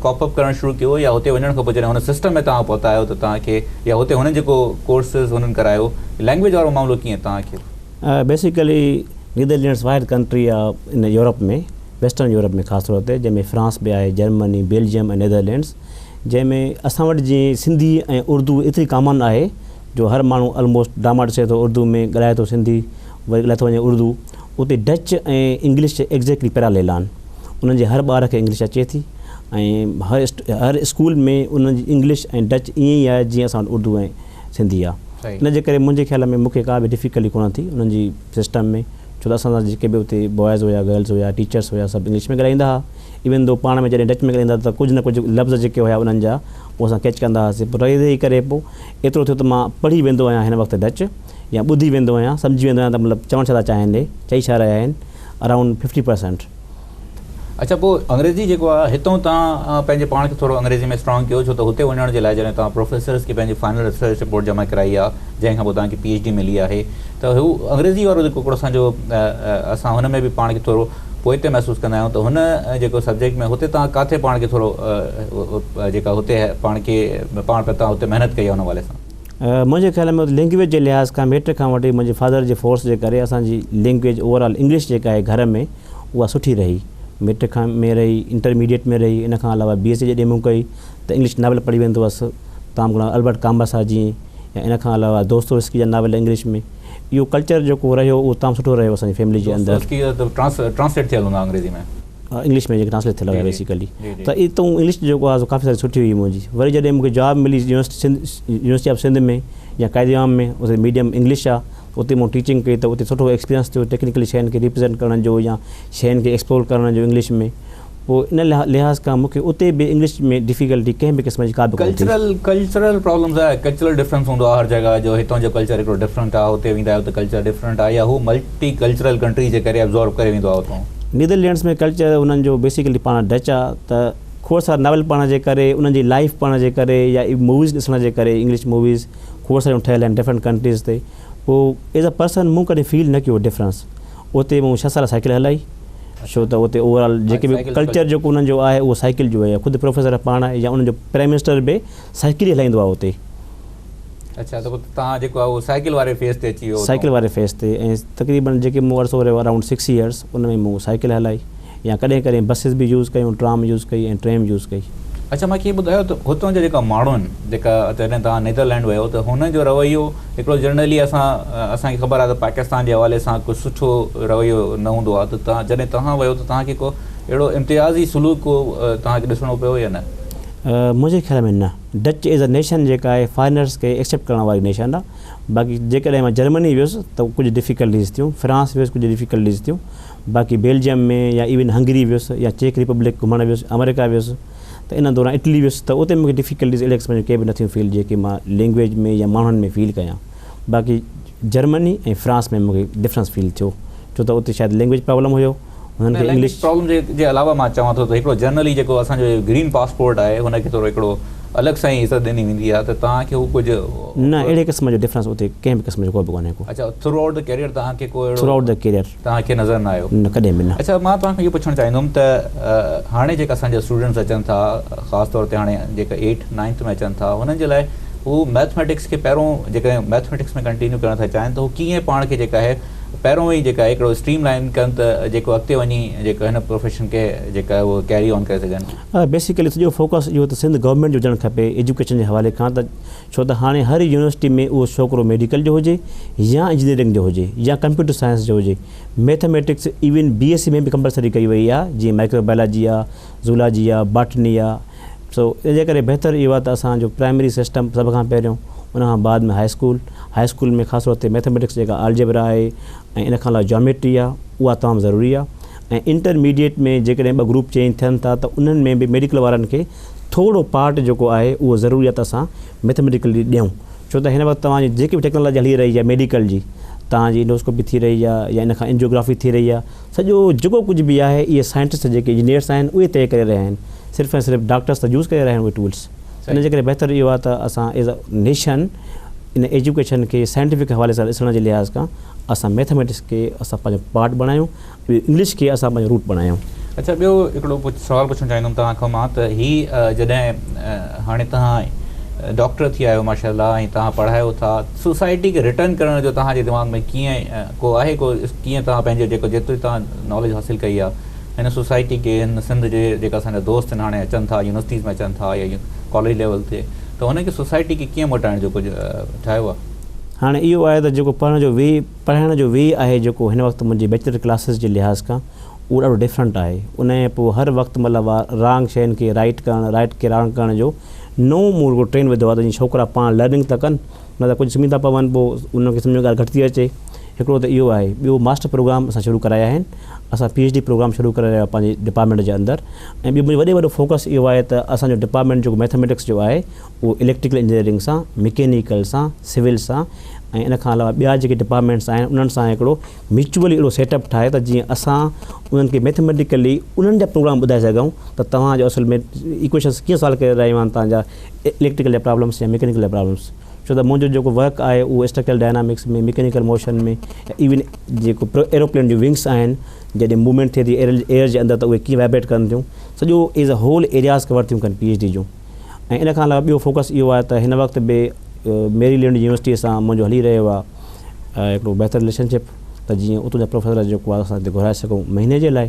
ڪاپ اپ ڪرڻ شروع ڪيو يا هتي وڃڻ کان پوء جڏهن هن سسٽم ۾ توهان پهتا آهيو ته توهان کي يا هتي هنن جيڪو ڪورسز هنن ڪرايو لينگويج وارو معاملو ڪيئن توهان کي بيسيڪلي نيدرلينڊس واحد ڪنٽري آ ان يورپ ۾ ويسٽرن يورپ ۾ خاص طور تي جنهن ۾ فرانس به آهي جرمني بيلجيم ۽ نيدرلينڊس جنهن ۾ اسان وٽ جي سنڌي ۽ اردو ايتري ڪامن آهي جو هر ماڻهو الموسٽ ڊاماٽ سي ٿو اردو ۾ ڳالهائي ٿو سنڌي وري ڳالهائي ٿو وڃي اردو اتي ڊچ ۽ انگلش ايگزيڪٽلي پيراليل آهن انهن جي هر ٻار کي انگلش اچي ٿي ۽ هر هر اسڪول ۾ انهن جي انگلش ۽ ڊچ ائين ئي آهي جيئن اسان وٽ اردو ۽ ٿيندي آ ان جي ڪري منهنجي خيال ۾ مونکي ڪا به ڊفيڪلٽي ڪونه ٿي انهن جي سسٽم ۾ ڇو ته اسان سان جيڪي به اتي بوائز هيا گرلز هيا ٽيچرس هيا سڀ انگلش ۾ ڳالهائيندا ها ايون ڌو پاڻ ۾ جڏهن ڊچ ۾ ڳالهائيندا ته ڪجهه نه ڪجهه لفظ جيڪي هيا انهن جا هو اسان ڪيچ ڪندا هاسي پر رهي رهي ڪري پو ايترو ٿيو ته مان پڙهي ويندو آهيان هن وقت ڊچ يا ٻڌي ويندو آهيان سمجهي ويندو آهيان ته مطلب چوڻ ڇا ٿا چاهين هي چئي ڇا رهيا آهن اراونڊ ففٽي پرسنٽ اڇا پوء انگريزي جيڪو آ هتون توهان پنهنجي پاڻ کي ٿورو انگريزي ۾ اسٽرانگ ڪيو ڇو ته هتي وڃڻ جي لاء جڏهن توهان پروفيسرس کي پنهنجي فائنل ريسرچ رپورٽ جمع ڪرائي آ جنهن کان پوء توهان کي پي ايڇ ڊي ملي آهي ته هو انگريزي وارو جيڪو ڪوڙ اسان جو اسان هن ۾ به پاڻ کي ٿورو پوئتي محسوس ڪندا آهيون ته هن جيڪو سبجيڪٽ ۾ هتي توهان ڪاٿي پاڻ کي ٿورو جيڪا هتي پاڻ کي پاڻ پي توهان هتي محنت ڪئي آ ان حوالي سان. منهنجي خيال ۾ لينگويج جي لحاظ کان ميٽرڪ کان وٺي منهنجي فادر جي فورس جي ڪري اسان جي لينگويج اوور آل انگلش جيڪا آهي گهر ۾ اها سٺي رهي. ميٽرڪ کان ۾ رهي، انٽرميڊيئيٽ ۾ رهي، ان کان علاوه بي ايس سي جڏهن مون ڪئي ته انگلش ناول پڙهي ويندو هئس، تام گهڻا البرٽ ڪامبر صاحب جي ۽ ان کان علاوه دوستويسڪي جا ناول انگلش ۾. اهو ڪلچر جيڪو رهيو اهو تام سٺو رهيو اسان جي فيملي جي اندر. دوستويسڪي جا ته ٽرانس ٽرانسليٽ ٿيل هوندا انگريزي ۾. انگلش ۾ جيڪي ٽرانسليٽ ٿيل هيا بيسيڪلي ته اي تون انگلش جيڪو آهي سو ڪافي ساري سٺي هئي منهنجي. وري جڏهن مون کي جاب ملي university Sindh university of Sindh ۾ يا قائد عام ۾ اتي ميڊيم انگلش آ. اتي مون ٽيچنگ ڪئي ته اتي سٺو ايڪسپيرينس ٿيو ٽيڪنيڪلي شين کي ريپريزينٽ ڪرڻ جو يا شين کي ايڪسپلور ڪرڻ جو انگلش ۾ پوء ان لحاظ کان مون کي اتي به انگلش ۾ ڊفيڪلٽي ڪنهن به قسم جي ڪا به ڪونه ٿي. ڪلچرل ڪلچرل پرابلمز آهي ڪلچرل ڊفرنس هوندو آهي هر جڳهه جو هتان جو ڪلچر هڪڙو ڊفرنٽ آهي هتي ويندا آهيو ته ڪلچر ڊفرنٽ آهي يا هو ملٽي ڪلچرل ڪنٽريز جي ڪري ابزورب ڪري ويندو آهي اتان. نيدرلينڊس ۾ ڪلچر انهن جو بيسيڪلي پاڻ ڊچ آهي ته کوڙ سارا ناول پڙهڻ جي ڪري انهن جي لائيف پڙهڻ جي ڪري يا موويز ڏسڻ جي ڪري انگلش موويز کوڙ ساريون ٺهيل آهن ڊفرنٽ ڪنٽريز تي پوء ايز ا پرسن مون ڪڏهن فيل نه ڪيو ڊفرنس اتي مون ڇهه سال سائيڪل هلائي ڇو ته اتي اوور آل جيڪي به ڪلچر جيڪو انهن جو آهي اهو سائيڪل جو آهي خود پروفيسر پاڻ يا انهن جو پرائم منسٽر به سائيڪل ئي هلائيندو آهي اتي اڇا ته پوء تان جيڪو آهي اهو سائيڪل واري فيز تي اچي ويو سائيڪل واري فيز تي ۽ تقريبن جيڪي مون عرصو رهيو اراونڊ سڪس يئرس ان ۾ مون سائيڪل هلائي يا ڪڏهن ڪڏهن بسز به يوز ڪيون، ٽرام يوز ڪئي ۽ ٽريم يوز ڪئي. اڇا ماکي ٻڌايو ته هتان جا جيڪا ماڻهو آهن جيڪا جڏهن توهان نيدرلينڊ ويو ته هنن جو رويو هڪڙو جنرلي اسان اسان کي خبر آهي ته پاڪستان جي حوالي سان ڪو سٺو رويو نه هوندو آهي ته جڏهن توهان ويو ته توهان کي ڪو اهڙو امتيازي سلوڪ ڪو توهان کي ڏسڻو پيو يا نه؟ منهنجي خيال ۾ نه. ڊچ ايز اي نيشن جيڪا آهي فارينرز کي ايڪسيپٽ ڪرڻ واري نيشن آهي باقي جيڪڏهن مان جرمني ويس ته ڪجهه ڊفيڪلٽيز ٿيون فرانس ويس ڪجهه ڊفيڪلٽيز ٿيون. باقي بيلجيم ۾ يا ايون هنگري ويس يا چيڪ ريپبلڪ گهمڻ ويس آمريڪا ويس ته ان دوران اٽلي ويس ته اتي مونکي ڊفيڪلٽيز اهڙي قسم جون ڪي به نه ٿيون فيل جيڪي مان لينگويج ۾ يا ماڻهن ۾ فيل ڪيان باقي جرمني ۽ فرانس ۾ مونکي ڊفرنس فيل ٿيو ڇو ته اتي شايد لينگويج پرابلم هيو هنن کي انگلش جي علاوه مان چوان ٿو ته هڪڙو جنرلي جيڪو اسان جو گرين پاسپورٽ آهي هن کي ٿورو هڪڙو الڳ سان ئي عزت ڏني ويندي آهي ته توهان کي هو ڪجهه. نه اهڙي قسم جو ڊفرنس اتي ڪنهن به قسم جو ڪو به ڪونهي ڪو. اڇا ٿرو آئوٽ دي ڪيريئر توهان کي ڪو اهڙو. ٿرو آئوٽ دي ڪيريئر توهان کي نظر نه آيو؟ نه ڪڏهن به نه. اچا مان توهان کان اهو پڇڻ چاهيندم ته هاڻي جيڪا اسان جا اسٽوڊنٽس اچن ٿا خاص طور تي هاڻي جيڪا ايٽ نائنٿ ۾ اچن ٿا هنن جي لاء هو مئٿميٽڪس کي پهريون جيڪڏهن مئٿميٽڪس ۾ ڪنٽينيو ڪرڻ ٿا چاهين ته هو ڪيئن پاڻ کي جيڪا آهي پهريون ئي جيڪا هڪڙو اسٽريم لائن ڪن ته جيڪو اڳتي وڃي جيڪو هن پروفيشن کي جيڪا آهي اهو ڪيري آن ڪري سگهن. بيسيڪلي سڄو فوڪس اهو ته سنڌ گورنمينٽ جو هجڻ کپي ايجوڪيشن جي حوالي کان ته ڇو ته هاڻي هر يونيورسٽي ۾ اهو ڇوڪرو ميڊيڪل جو هجي يا انجنيئرنگ جو هجي يا ڪمپيوٽر سائنس جو هجي mathematics even B S C ۾ به ڪمپلسري ڪئي وئي آ جيئن مائڪرو بائلاجي آ زولاجي آ باٽني آ سو ان جي ڪري بهتر اهو آ ته اسان جو پرائمري سسٽم سڀ کان پهريون ان کان بعد ۾ هاء اسڪول هاء اسڪول ۾ خاص طور تي ميٿميٽڪس جيڪا آلجبرا آهي ۽ ان کان علاوه جاميٽري آ اها تمام ضروري آ. ۽ انٽر ميڊيئيٽ ۾ جيڪڏهن ٻه گروپ چينج ٿين ٿا ته انهن ۾ به ميڊيڪل وارن کي ٿورو پارٽ جيڪو آهي اهو ضروري آهي ته اسان ميٿميٽيڪل جي ڏيون ڇو ته هن وقت توهان جي جيڪي به ٽيڪنالاجي هلي رهي آهي ميڊيڪل جي توهان جي انڊوسڪوپي ٿي رهي آهي يا ان کان انجيوگرافي ٿي رهي آهي سڄو جيڪو ڪجهه به آهي اهي سائنٽسٽ جيڪي انجنيئرس آهن اهي طئي ڪري رهيا آهن صرف ۽ صرف ڊاڪٽرس ته يوز ڪري رهيا آهن اهي ٽولس ان جي ڪري بهتر اهو آهي ته اسان ايز اي نيشن ان ايجوڪيشن کي سائنٽيفڪ حوالي سان ڏسڻ جي لحاظ کان اسان ميٿميٽڪس کي اسان پنهنجو پارٽ بڻايون انگلش کي اسان پنهنجو روٽ بڻايون. اڇا ٻيو هڪڙو ڪجهه سوال پڇڻ چاهيندم توهان کان مان ته هي جڏهن هاڻي توهان ڊاڪٽر ٿي آهيو ماشاء الله ۽ توهان پڙهايو ٿا سوسائٽي کي رٽرن ڪرڻ جو توهان جي دماغ ۾ ڪيئن ڪو آهي ڪو ڪيئن توهان پنهنجو جيڪو جيتري توهان ناليج حاصل ڪئي آهي هن سوسائٽي کي هن سنڌ جي جيڪا اسان جا دوست آهن هاڻي اچن ٿا يونيورسٽيز ۾ اچن ٿا يا ڪاليج ليول تي ته هن کي سوسائٽي کي ڪيئن موٽائڻ جو ڪجهه ٺاهيو آهي. هاڻي اهو آهي ته جيڪو پڙهڻ جو وي پڙهائڻ جو وي آهي جيڪو هن وقت منهنجي بيچلر ڪلاسز جي لحاظ کان اهو ڏاڍو ڊفرنٽ آهي انهيء پوء هر وقت مطلب آ رانگ شين کي رائيٽ ڪرڻ رائيٽ کي رانگ ڪرڻ جو نئون مون هڪڙو ٽرين وڌو آ ته جيئن ڇوڪرا پاڻ لرننگ ته ڪن نه ته ڪجهه سمهي ٿا پون پوء انهن کي سمجهه ۾ ڳالهه گهٽ ٿي اچي هڪڙو ته اهو آهي ٻيو ماسٽر پروگرام اسان شروع ڪرايا آهن اسان پي ايڇ ڊي پروگرام شروع ڪري رهيا پنهنجي ڊپارٽمينٽ جي اندر ۽ ٻيو منهنجو وڏي وڏو فوڪس اهو آهي ته اسان جو ڊپارٽمينٽ جيڪو ميٿميٽڪس جو آهي اهو اليڪٽريڪل انجنيئرنگ سان، مڪينيڪل سان، سول سان ۽ ان کان علاوه ٻيا جيڪي ڊپارٽمينٽس آهن انهن سان هڪڙو ميچوئلي اهڙو سيٽ اپ ٺاهي ته جيئن اسان انهن کي ميٿميٽيڪلي انهن جا پروگرام ٻڌائي سگهون ته توهان جو اصل ۾ ايڪويشنس ڪيئن سالو ڪري رهيون آهن توهان جا اليڪٽريڪل جا پرابلمس يا مڪينيڪل جا پرابلمس ڇو ته منهنجو جيڪو ورڪ آهي اهو اسٽرڪچرل ڊائنامڪس ۾ مڪينيڪل موشن ۾ يا ايون جيڪو ايروپلين جون ونگس آهن جڏهن موومينٽ ٿئي ٿي ايئر جي اندر ته اهي ڪيئن وائبريٽ ڪن ٿيون سڄو as a whole areas cover ٿيون ڪن پي ايڇ ڊي جون ۽ ان کان علاوه ٻيو فوڪس اهو آهي ته هن وقت به ميري لينڊ يونيورسٽيء سان منهنجو هلي رهيو آهي هڪڙو بهتر رليشن شپ ته جيئن اتو جا پروفيسر جيڪو آهي اسان هتي گهرائي سگهون مهيني جي لاء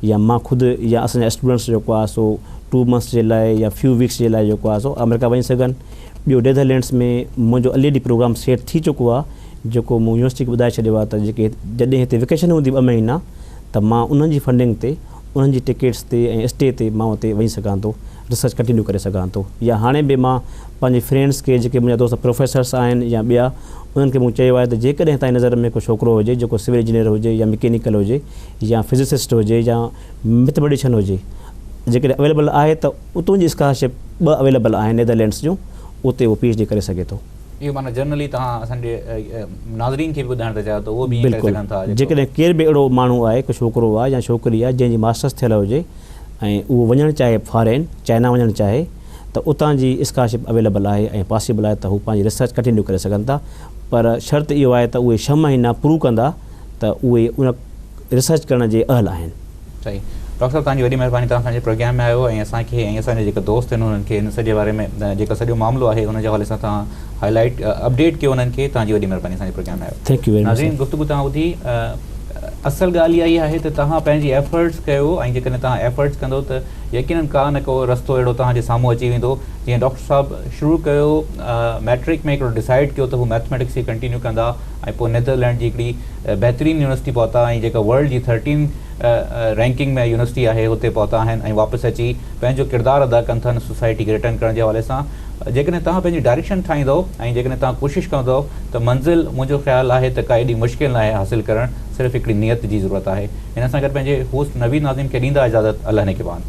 يا مان خود يا اسان جا اسٽوڊنٽس جيڪو آهي سو ٽو منٿس جي لاء يا فيو ويڪس جي لاء جيڪو آهي سو آمريڪا وڃي سگهن ٻيو ڊيڌر لينڊس ۾ منهنجو الريڊي پروگرام سيٽ ٿي چڪو آهي جيڪو مون يونيورسٽي کي ٻڌائي ڇڏيو آهي ته جيڪي جڏهن هتي ويڪيشن هوندي ٻه مهينا ته مان انهن جي فنڊنگ تي انهن جي ٽڪيٽس تي ۽ اسٽي تي مان اتي وڃي سگهان ٿو ريسرچ ڪنٽينيو ڪري سگهان ٿو يا هاڻي به مان پنهنجي فرينڊس کي جيڪي منهنجا دوست پروفيسرس آهن يا ٻيا انهن کي مون چيو آهي ته جيڪڏهن توهان جي نظر ۾ ڪو ڇوڪرو هجي جيڪو سول انجنيئر هجي يا مڪينيڪل هجي يا فزسسٽ هجي يا ميٿميٽيشن هجي جيڪڏهن اويليبل آهي ته اتون جي اسڪالرشپ ٻه اويليبل آهن نيدرلينڊس جون اتي هو پي ايڇ ڊي ڪري سگهي ٿو. اهو معنيٰ جنرلي توهان اسان جي ناظرين کي به ٻڌائڻ ٿا چاهيو ته اهو به ائين ڪري سگهن ٿا. جيڪڏهن ڪير به اهڙو ماڻهو آهي ڪو ڇوڪرو آهي يا ڇوڪري آهي جنهن جي ماسٽرس ٿيل هجي ۽ اهو وڃڻ چاهي فارين چائنا وڃڻ چاهي ته اتان جي اسڪالرشپ اويليبل آهي ۽ پاسيبل آهي ته هو پنهنجي ريسرچ ڪنٽينيو ڪري سگهن ٿا پر شرط اهو آهي ته اهي ڇهه مهينا پرو ڪندا ته اهي ان ريسرچ ڪرڻ جي اهل آهن. صحيح ڊاڪٽر صاحب توهان جي وڏي مهرباني توهان اسان جي پروگرام ۾ آيو ۽ اسان کي ۽ اسان جا جيڪا دوست آهن انهن کي ان سڄي باري ۾ جيڪا سڄو معاملو آهي ان جي حوالي سان توهان هاء لائيٽ اپڊيٽ ڪيو انهن کي توهان جي وڏي مهرباني اسان جي پروگرام ۾ آيو ناظرين گفتگو توهان ٻڌي اصل ڳالهه اها ئي آهي ته توهان پنهنجي ايفرٽس ڪيو ۽ جيڪڏهن توهان ايفرٽس ڪندو ته يقينن ڪا نه ڪو رستو اهڙو توهان جي سامهون اچي ويندو جيئن ڊاڪٽر صاحب شروع ڪيو مئٽرڪ ۾ هڪڙو ڊسائيڊ ڪيو ته هو مئٿميٽڪس کي ڪنٽينيو ڪندا ۽ پوء نيدرلينڊ جي هڪڙي بهترين يونيورسٽي پهتا ۽ جيڪا ورلڊ جي ٿرٽين رينڪنگ ۾ يونيورسٽي آهي اتي پهتا آهن ۽ واپس اچي پنهنجو ڪردار ادا ڪن ٿا ان سوسائٽي کي رٽرن ڪرڻ جي حوالي سان جيڪڏهن توهان پنهنجي ڊائريڪشن ٺاهيندؤ ۽ جيڪڏهن توهان ڪوشش ڪندؤ ته منزل منهنجو خيال آهي ته ڪا ايڏي مشڪل ناهي حاصل ڪرڻ صرف هڪڙي نيت جي ضرورت آهي هن سان گڏ پنهنجي هوسٽ نويد ناظم کي ڏيندا اجازت الله نگهبان.